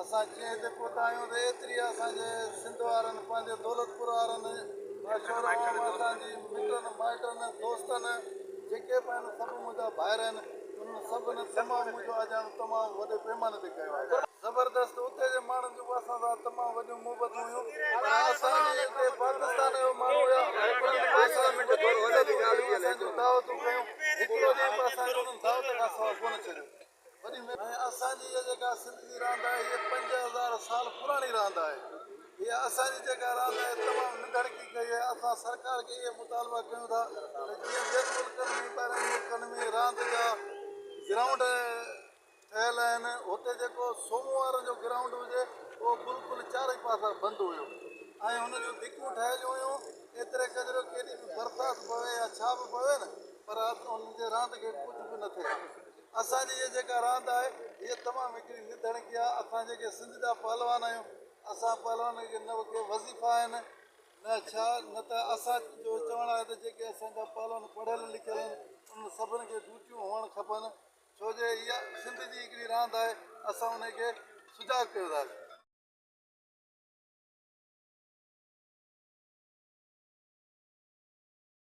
اسان جيئن هتي پهتا آهيون ته ايتري اسان جي سنڌ وارن پنهنجي دولتپور وارن مشهور عوام اسان جي مٽن مائٽن دوستن جيڪي به آهن سڀ منهنجا ڀائر آهن انهن سڀن تمام منهنجو آجياڻو تمام وڏي پيماني تي ڪيو آهي. زبردست اتي جي ماڻهن جون به اسان سان تمام وڏيون محبتون هيون پر اسان جي هتي پاڪستان جا ماڻهو هيا انهن به اسان سان مٺي ٻولي ڳالهائي اسان جون دعوتون ڪيون هڪڙو ڏينهن به اسان کي انهن دعوت کان سواء ڪونه ڇڏيو ۽ اسان جي اها جيڪا سنڌ جي راند آهي هيء پنج هزار سال پراڻي راند آهي. هيء اسان جي جيڪا راند آهي تمام ننڍڙڪي ڪئي آهي. اسان سرڪار کي اهي مطالبا ڪيون ٿا ته جيئن ٻين ملڪن ۾ ٻاهرين ملڪن ۾ راند جا گرائونڊ ٺهيل آهن هتي جيڪو سومو وارن جو گرائونڊ هجي اهو بلڪل چارئي پاسا بند هيو ۽ هن جون ڌڪون ٺهيليون هيون ايتري قدر ڪيڏي به برسات پوي يا ڇا به پوي نه پر هن جي راند کي ڪجهه به نه ٿئي ها. اسان جي اھا جيڪا راند آھي اھا تمام ھڪڙي نڌڻڪي آھي اسان جيڪي سنڌ جا پهلوان آھيون اسان پهلوانن کي نه ڪي وظيفا آھن نه ڇا نه ته اسان جو چوڻ آھي ته جيڪي اسان جا پهلوان پڙھيل لکيل آھن انھن سڀن کي ڊيوٽيون ھئڻ کپن ڇو جو اھا سنڌ جي ھڪڙي راند آھي اسان انھي کي سجاڳ ڪيو ٿا.